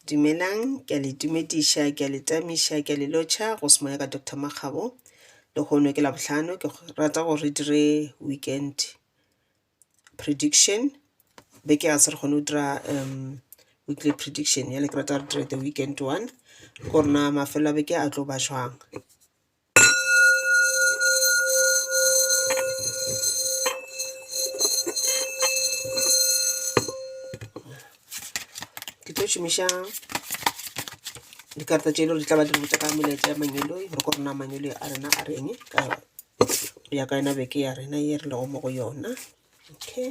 Dumelang, ke a le tumediša, ke a le tamiša, ke a le lotšha go se moya ka Doctor Makgabo. Lehono ke Labohlano, ke rata gore re dire weekend prediction. Beke ga se re kgone go dira um weekly prediction, bjale ke rata re dire the weekend one gore na mafelo a beke a tlo ba jwang. ke tlo šomiša dikarata tše e le gore di tla ba di re botsa ka melaetša ya manyolo gore ko rona manyolo a rena a reng ka ya ka yona beke ya rena ye re lego mo go yona okay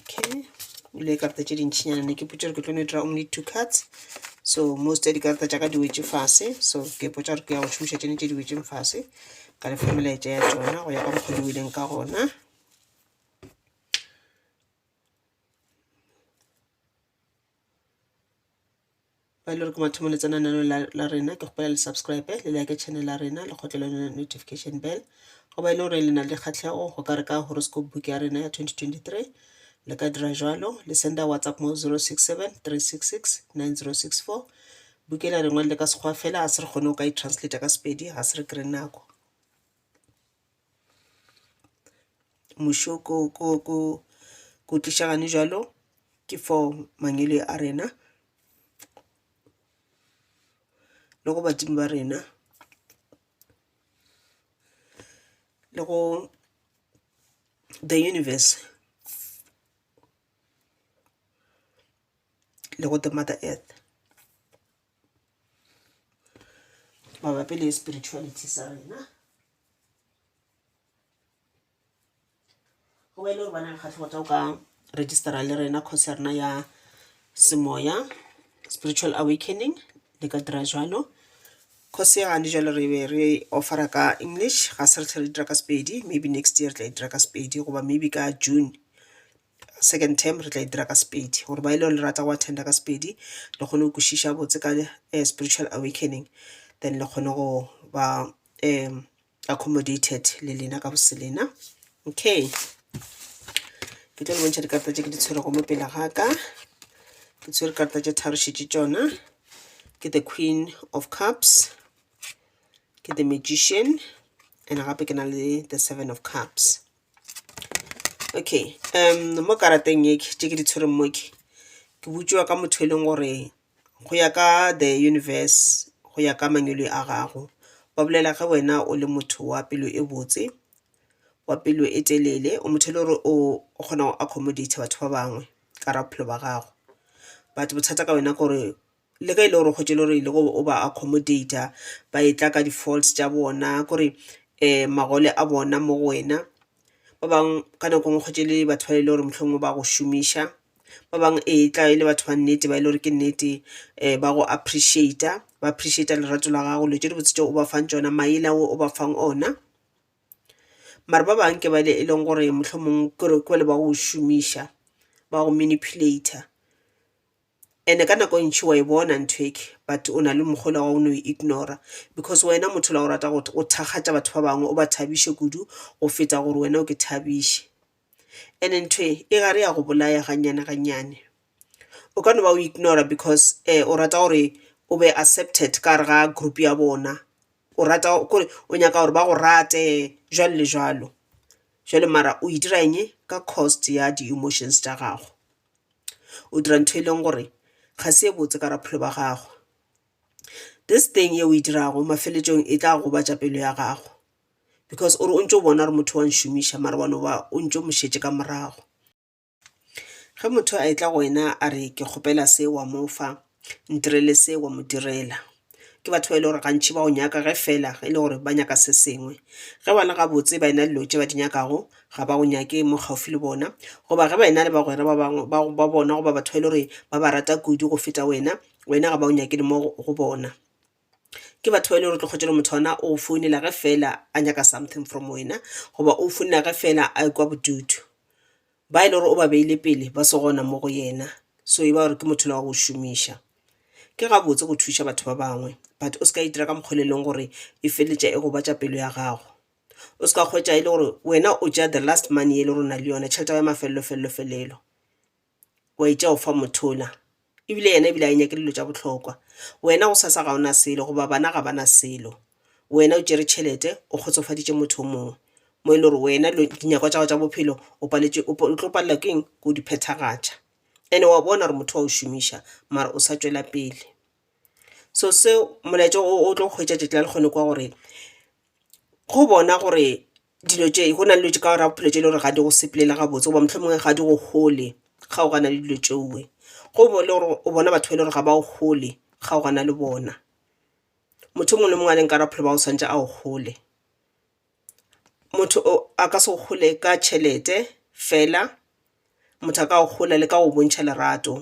Okay, o ile karata tše dintšhinyana ne ke potša gore ke tlo no e dira only two cards so most ya dikarata tša ka di wetše fase so ke potša gore ke ya go šomiša tšene tše di wetšeng fase ka lefa melaetša ya tsona go ya ka mokgwa di weleng ka gona ba e le gore ke mathomo le tsena nano la rena ke kgopela le subscribe le like channel la rena le kgotlele yone notification bell go ba e le gore le na le dikgatlhego go ka re ka horoscope book ya rena ya 2023 le ka dira jalo le senda whatsapp mo 067 366 9064 bukela rengwe le ka sekgwa fela a se re kgone go ka e translate ka sepedi ga se re kry nako Mušo ko, ko, ko, ko tliša gane jalo ke for mangwele a rena le go badimo ba rena le go the universe le go the mother earth. mabapi le spirituality sa rena go ba e le gore bana lekgatlhego tsa o ka registera le rena course ya rena ya semoya spiritual awakening le ka dira jalo course ya gane jalo re be re offera ka english ga se re tlhe re dira ka sepedi maybe next year re tla e dira ka sepedi goba maybe ka june Second term re tla e dira ka Sepedi gore ba e le gore le rata go attenda ka Sepedi le kgone go kwešiša botse ka eh, spiritual awakening then le kgone go ba um accommodated le lena ka boselena okay ke tlo le bontšha dikarata tše ke di tshwerego mo pele ga ka ke tshwere karata tše tharošitše tšona ke the queen of cups ke the magician and gape ke na le the seven of cups Okay mo karateng e tše ke di tshwereng mo ke, ke botšiwa ka motho e leng gore go ya ka the universe go ya ka mangwele a gago ba bolela ge wena o le motho wa pelo e botse, wa pelo e telele, o motho e le gore o kgona go accomodate-a batho ba bangwe ka gare ga bophelo ba gago. But bothata ka wena ke gore le ge e le gore kgotše le gore ile go o ba accommodater ba e tla ka di-faults tša bona kore um magole a bona mo go wena ba bangwe ka nako ngwe kgotše le batho ba e le gore mohlomongwe ba go šomiša ba bangwe e tla e le batho ba nnete ba e le gore ke nnete um ba go appreciata ba appreciata lerato la gago dilo tše dibotse tšeo o ba fang tšona maele ao o ba fang ona mare ba bangwe ke ba e leng gore mohlomongwe kore ke bale ba go šomiša ba go manipulator Ene ka nako e ntši wa e bona nthweke but o na le mokgola wa go no e ignora because wena motho la go rata go o thakgatša batho ba bangwe o ba thabiše kudu go feta gore wena o ke thabiše. Ene ntho e e gare ya go bolaya gannyane gannyane. O ka no ba o ignora because um o rata gore o be accepted ka gare ga group ya bona o rata kore o nyaka gore ba go rate jwalo le jwalo. Jwale mara o e dira eng ka cost ya di-emotions tša gago. o dira ntho e leng gore ga se e botse ka bophelo ba gago this thing e o e dirago mafeletšong e tla gobatša pelo ya gago because o re o ntse o bona gore motho wa nšomiša mara wa no ba o ntse o mo šetše ka morago ge motho a etla go wena a re ke kgopela se wa mofa Ntirele se wa mo direla. Ke batho ba e le gore gantši ba go nyaka ge fela e le gore ba nyaka se sengwe. Ge ba le gabotse ba ena dilo tše ba di nyakago ga ba go nyake mo kgauswi le bona goba ge ba ena le bagwera ba bangwe ba bona goba batho ba e le gore ba ba rata kudu go feta wena, wena ga ba o nyake le mo go bona. Ke batho ba e le gore tlogotše le motho ona o founela ge fela a nyaka something from wena goba o founela ge fela a e kwa bodutu. ba e le gore o ba beile pele ba se gona mo go yena so e ba gore ke motho le wa go šomiša ke gabotse go thuša batho ba bangwe but o se ka itira ka mokgole e leng gore e feletša e gobatša pelo ya gago o se ka kgwetša e le gore wena o ja the last money e le gore o na le yone tšhelete ya mafelelo felelo felelo wa itša o fa mothola E bile yena e bile a e nyake dilo tša bohlokwa. Wena gosasa ga o na selo goba bana ga ba na selo. Wena o tšere tšhelete, o kgotsofaditše motho o mongwe. Mo e le gore wena dilo, dinyakwa tša gago tša bophelo o paletše, o, o tlo palelwa ke eng? Ke go di phethagatša. And-e wa bona gore motho wa go šomiša mara o sa tšwela pele. So seo, molaetša o, o tlo go hwetša tšatši la lekgone kwa gore go bona gore dilo tše go na le dilo tše ka gare ga bophelo tše e le gore ga di go sepelela gabotse goba mohlomongwe ga di go hole kgaogana le dilo tšeoe. Go bo le gore o bona batho ba e le gore ga ba go hole kgaogana le bona, motho o mongwe le mongwe a leng ka gare ga bophelo ba gago o swanetše a go hole. Motho o a ka se go hole ka tšhelete fela, motho a ka go hole le ka go bontšha lerato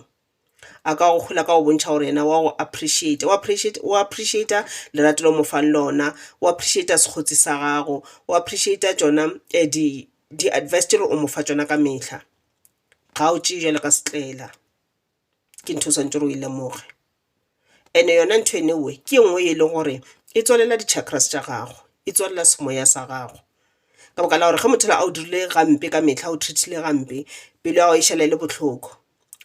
a ka go hlola ka go bontšha gore yena wa go appreciate-a, o appreciate, o appreciate-a lerato le o mo fang lona, o appreciate-a sekgotsi sa gago, o appreciate-a tšona di di advice tše le gore o mo fa tšona ka mehla. Ga o tšee bjalo ka setlaela, ke ntho o swanetše gore o e lemoge. and yona ntho ene uwe ke e nngwe e leng gore e tswalela di chakras tša gago e tswalela semoya sa gago ka baka la gore ge motho la a o dirile gampe ka metlha o treatile gampe pelo ya go e šala e le bohloko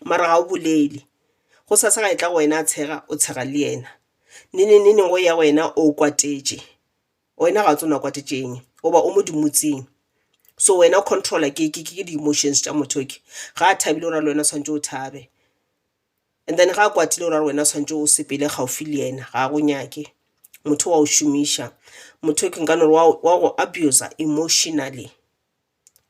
mara ga o bolele go sa sa ga e tla go wena a tshega o tshega le yena nene nene go ya wena o kwatetše wena ga o tsena kwatetšeng goba o mo dimotsing so wena o controller ke di-emotions tša motho okay ga a thabile o ra le wena o tshwanetse o thabe. And then ga a kwatile o ra wena tshwantse o sepele gaufi le yena ga a go nyake motho wa o šomiša motho ke nka nore wa go abusa emotionally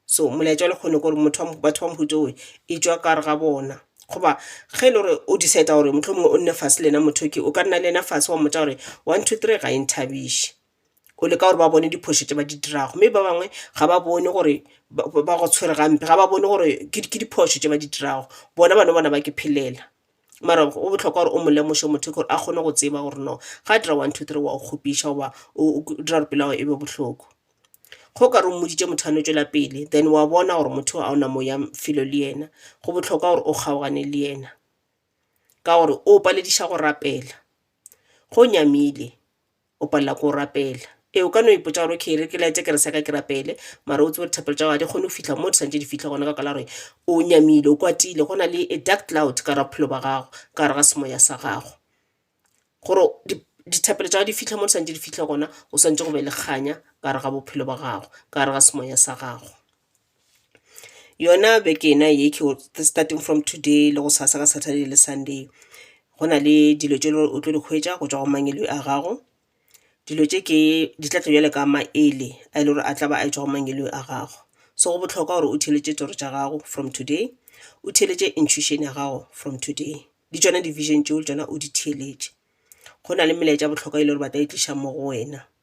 so molaetša wa lekgone kore motho batho ba mohuta oe e tšwa ka gare ga bona goba ge e le gore o decide gore mohlomongwe o nne fase le yena motho ke o ka nna le yena fase wa mmotsa gore one two three ga e nthabiše go leka gore ba bone diphošo tše ba di dirago mme ba bangwe ga ba bone gore ba go tshwere gampe ga ba bone gore ke diphošo tše ba di dirago bona ba no bona ba ke phelela mara go bohlokwa gore o mo lemoše motho ke gore a kgone go tseba gore no ga a dira one two three wa go kgopiša goba o dira gore pelo ya gago e be bohloko ge o ka re o mmoditše motho a no tšwela pele then wa bona gore motho ga o na moya felo le yena go bohlokwa gore o kgaogane le yena ka gore o palediša go rapela go nyamile O palelwa ke go rapela. Ee, o ka no ipotša gore okay, e re ke light-e kerese ya ka ke rapele, mara o tsebe gore thapelo tša gago ga di kgone go fihla mo di swanetše di fihle gona ka baka la gore o nyamile, o kwatile, go na le a dark cloud ka gare ga bophelo bja gago, ka gare ga semoya sa gago. Gore dithapelo tša gago di fihle mo di swanetše di fihle gona go swanetše go be le kganya ka gare ga bophelo bja gago, ka gare ga semoya sa gago. Yona beke yena ye ke starting from today le gosasa ka Saturday le Sunday go na le dilo tše o tlo di hwetša go tšwa go mangwele a gago. Dilo tše ke di tla tla bjalo ka maele a e le gore a tla ba a tšwa go mangweleng a gago. So go bohlokwa gore o theeletše toro tša gago from today, o theeletše intuition ya gago from today le tšona di-vision tšeo le tšona o di theeletše. Go na le melaetša ya bohlokwa e le gore ba tla e tliša mo go wena.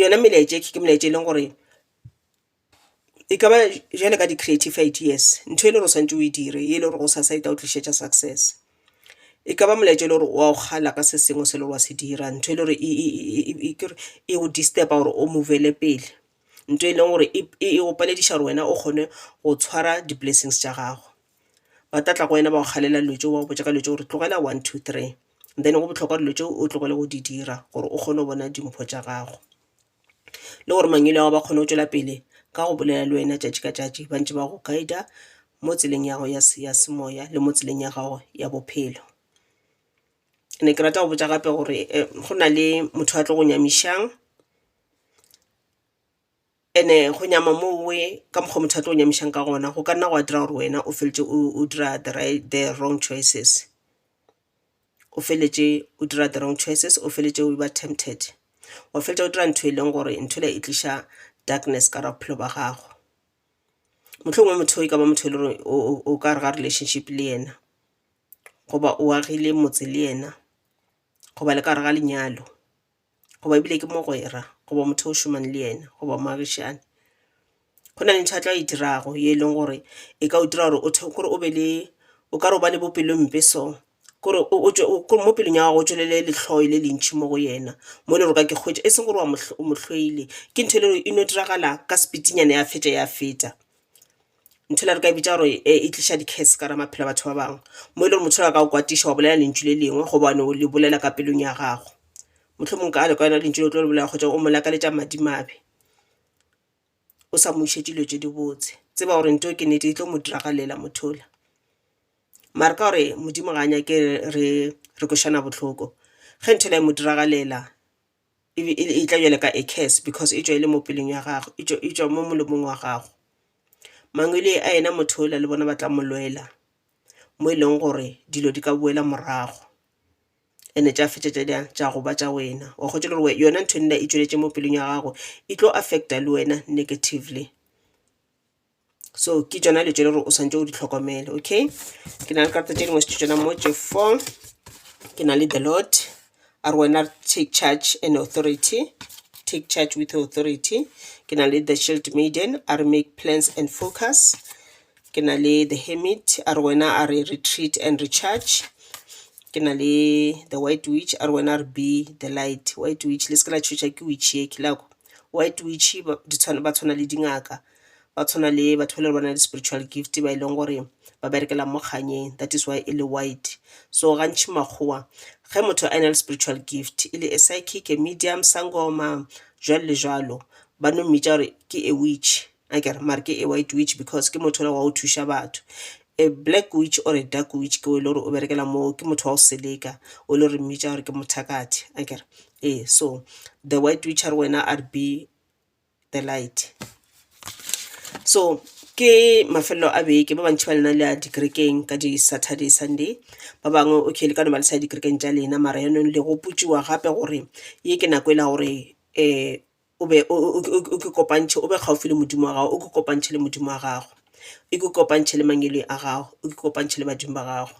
yona melaetša e ke melaetša eleng gore e kaba bjalo ka di creative ideas ntho e le gore o swanetše o e dire e le gore gosasa e tla go tlišetša success. E kaba molaetša e le gore wa go kgala ka se sengwe se e le gore wa se dira ntho e le gore e go disturb-a gore o move-le pele ntho e leng gore e go palediša gore wena o kgone go tshwara di blessings tša gago. ba tla tla go wena ba go galela dilo tšeo ba go botša ka dilo tšeo gore tlogela one two three then go bohlokwa dilo tšeo o tlogele go di dira gore o kgone go bona dimpho tša gago le gore mangwele a gago ba kgone go tšwela pele ka go bolela le wena tšatši ka tšatši ba ntše ba go guide-a mo tseleng ya gago ya semoya le mo tseleng ya gago ya bophelo ne ke rata go botša gape gore go na le motho a tlo go nyamišang And-e go nyama mowe ka mokgwa motho a tlo go nyamišang ka gona go ka nna gwa dira gore wena o feletše o dira the right, the wrong choices, o feletše o dira the wrong choices, o feletše o ba tempted, wa feletša o dira ntho e leng gore ntho e le e tliša darkness ka gare ga bophelo ba gago. Mohlomongwe motho e ka ba motho e le gore o ka gare ga relationship le yena, goba o agile motse le yena, goba le ka gare ga lenyalo. goba ebile ke mogwera goba motho o šomang le yena goba moagišane go na le ntho a tla e dirago ye e leng gore e ka o dira gore o kore o be le o ka re o ba le bopelompe so kore mo pelong ya gago o tšwelele letlhoi le lentšhi mo go yena mo e le gore ka ke kgwetša e seng gore wa mo hloile ke ntho e le gore e no diragala ka sepitinyana ya fetša ya feta nthwela re ka e bitša gore e, e tliša di-case ka ra maphelo a batho ba bangwe mo e le gore motho la ka o kwatiša wa bolela lentšu le lengwe gobane o le bolela ka pelong ya gago motlho mongwe ka le ka yona lentšu le tlo le bolela kgotsa o mo lakaletša madimabe o sa mo išetše dilo tše dibotse tseba gore nto ke nete e tlo mo diragalela mothola mare ka gore modimo ga a nyake re re košana bohloko ge nthwela e mo diragalela e be e le- e tla bjale ka a curse because e tšwa e le mo pelong ya gago, e tšwa- e tšwa mo molomong wa gago. Mangwele a yena motho yola le bona ba tla mo lwela, mo e leng gore dilo di ka boela morago and-e tša fetša tša dirang? Tša go ba tša wena. O a kgotša le gore we- yona ntho e nna e tšweletše mo pelong ya gago e tlo affect-a le wena negatively. so ke tšona dilo tše le gore o swanetše o di hlokomele okay ke na le karata tše dingwe tšona mo tše four ke na le the lord a re wena take charge and authority take charge with authority ke na le the shield maiden a re make plans and focus ke na le the hermit a re wena a re retreat and recharge ke na le the white witch a re wena re be the light white witch le se ke la tšhoša ke witch ye ke la kwa white witch ba tshwana le dingaka ba tshwana le batho ba le ba na le spiritual gift ba e leng gore ba berekela mo kganyeng that is why e le white so gantši makgowa ge motho a na le spiritual gift e le a psychic a medium sangoma jwalo le jwalo ba no mmitša gore ke a witch a kere mare ke a white witch because ke motho wa o thuša batho a black witch or a dark witch ke o e le gore o berekela moo ke motho wa go seleka o e le gore mmitša gore ke mothakathe a kere ee so the white witch a re wena a re be the light so ke mafelelo a beke ba bantši ba lena le a dikerekeng ka di-saturday sunday ba bangwe okay le ka no ba le sa dikerekeng tša lena mara yanong le gopotsiwa gape gore ye ke nako e la gore um o be o ke kopantšhe o be kgauswi le modimo wa gago o ke kopantšhe le modimo wa gago e ke o kopantšhe le mangwele a gago e ke o kopantšhe le badimo ba gago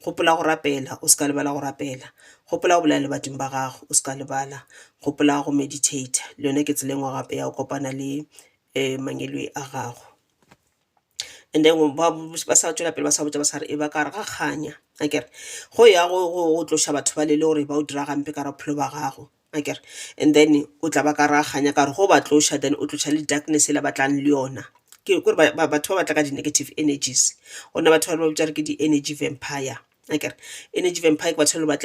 gopola go rapela o se ka lebala go rapela gopola go bolela le badimo ba gago o se ka lebala gopola go meditator le yone ke tseleng wa gape ya go kopana le um mangwele a gago and then ba sa tšwela pele ba sa botsa ba sa re e ba ka re ga kganya akere go ya go tloša batho ba le le gore ba o dira gampe ka re bophelo ba gago akere and then o tla ba ka ra kganya ka gore ge o ba tloša then o tloša le darkness yela ba tlang le yona ke gore batho ba ba tla ka di-negative energies gona batho ba ba bitša gore ke di-energy vampire akere energy vampire ke batho ba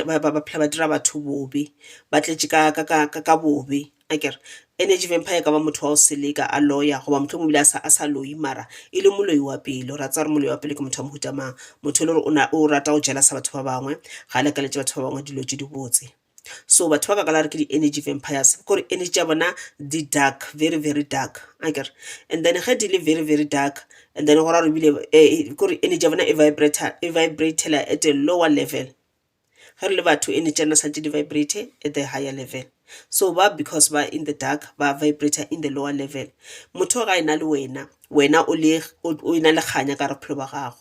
phela ba dira batho bobe ba tletše ka bobe akere energy vampire e ka ba motho wa go seleka a loya goba mohlomong o bile a sa loyi mara e le moloi wa pelo ra tsaya gore moloi wa pelo ke motho wa mohuta mang motho e le gore o rata go jealous batho ba bangwe ga a lakaletše batho ba bangwe dilo tše dibotse so batho ba ka kala re ke di-energy vampires kore energy tša bona di dark very very dark a kere and then ge di le very very dark and then go ra re bile eh, kore energy ya bona e vibratela at a lower level ge re le batho energy tša nna sa tše di vibrate at the higher level so ba because ba in the dark ba vibrator in the lower level motho ga e na le wena wena o na le kganya ka re bophelo ba gago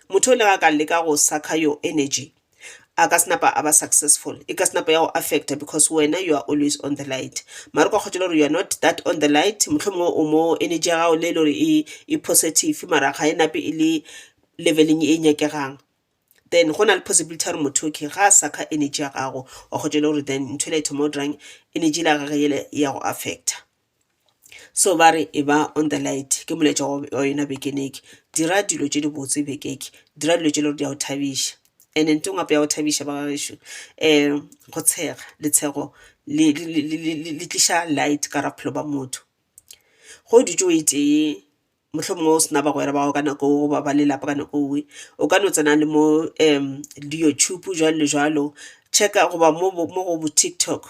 Motho o le ge a ka leka go sucker your energy a ka se napa a ba successful, e ka se napa ya go affecta because wena you are always on the light. Mara o ka kgotšela gore you are not that on the light, mohlomongwe o mo energy ya gago le e le gore e e positive mara ga e nape e le level-eng e nyakegang. Then go na le possibility ya gore motho okay ga a sucker energy ya gago wa kgotšela gore then ntho e le a e thoma go dirang energy ya gage yele e ya go affecta. so ba re e ba on the light ke molaetša wa yona bekeneke dira dilo tše di botse bekeke dira dilo tše le gore di a o thabiša and nto ngwape ya go thabiša ba gaešo um go tshega letshego le tliša light ka ra bophelo ba motho go dutše o e tee mohlomongwe o sena bagwera ba gago ka nako goba ba lelapa ka nako nngwe o ka no tsena le mo um di-youtube jwalo le jwalo checka goba mo go bo-tiktok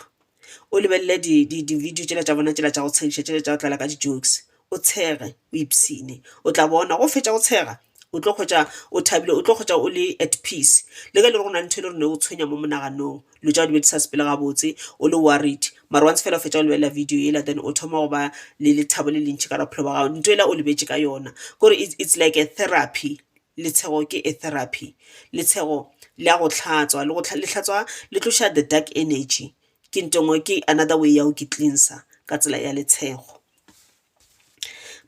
o lebelele di-video tšela tša bona tšela tša go tshegiša tšela tša go tlala ka di-jokes o tshege o ipsene o tla bona go fetša go tshega o tlo kgwetša o thabile o tlo kgwetša o le at peace le ka le gore go na le ntho e le rone o tshwenya mo monaganong Dilo tša gao di be di sa sepele gabotse, o le worried. Mara once fela o fetša go lebelela video yela then o thoma go ba le lethabo le lentši ka gare ga bophelo bja gago. Nto yela o lebetše ka yona ke gore it's like a therapy. Letshego ke a therapy. Letshego le a go hlatswa, le go le hlatswa, le tloša the dark energy. Ke nto e nngwe, ke another way ya go ke cleanser ka tsela ya letshego.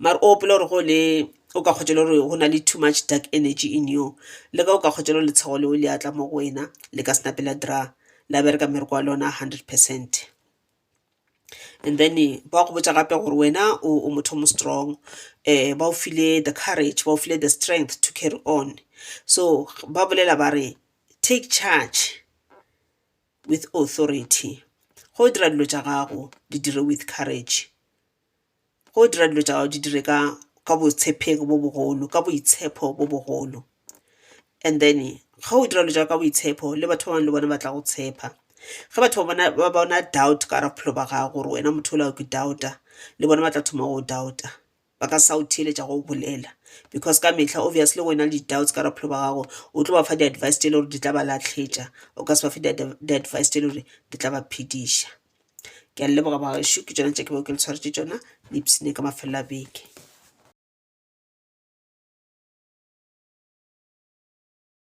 mare o gopola gore go ne o ka kgotšela gore go na le too much dark energy in you le ge o ka kgotšela gore letsheago leo le atla mo go wena le ka senape la dira la bereka mmereko wa lona hundred percent. And then ba go botša gape gore wena o motho o mo strong ba go file the courage ba go file the strength to carry on so ba bolela ba re take charge. with authority, ge o dira dilo tša gago di dire with courage, ge o dira dilo tša gago di dire ka ka botshephegi bo bogolo, ka boitshepho bo bogolo. And then ge o dira dilo tša gago ka boitshepho le batho ba bangwe le bona ba tla go tshepa. Ge batho ba bona ba bona doubt ka gare ga bophelo ba gago gore wena motho yola o ke doubter le bona ba tla thoma go doubter. ba ka sa o theeletša go bolela because ka mehla obviously wena le di-doubts ka bophelo ba gago o tlo ba fa di-advice tse e le gore di tla ba latlhetša o ka se ba fe di-advice tse e le gore di tla ba phediša ke a leboga bagešu ke tsona tše ke beo ke le tshwaretse tsona le ipsene ka mafelelo a beke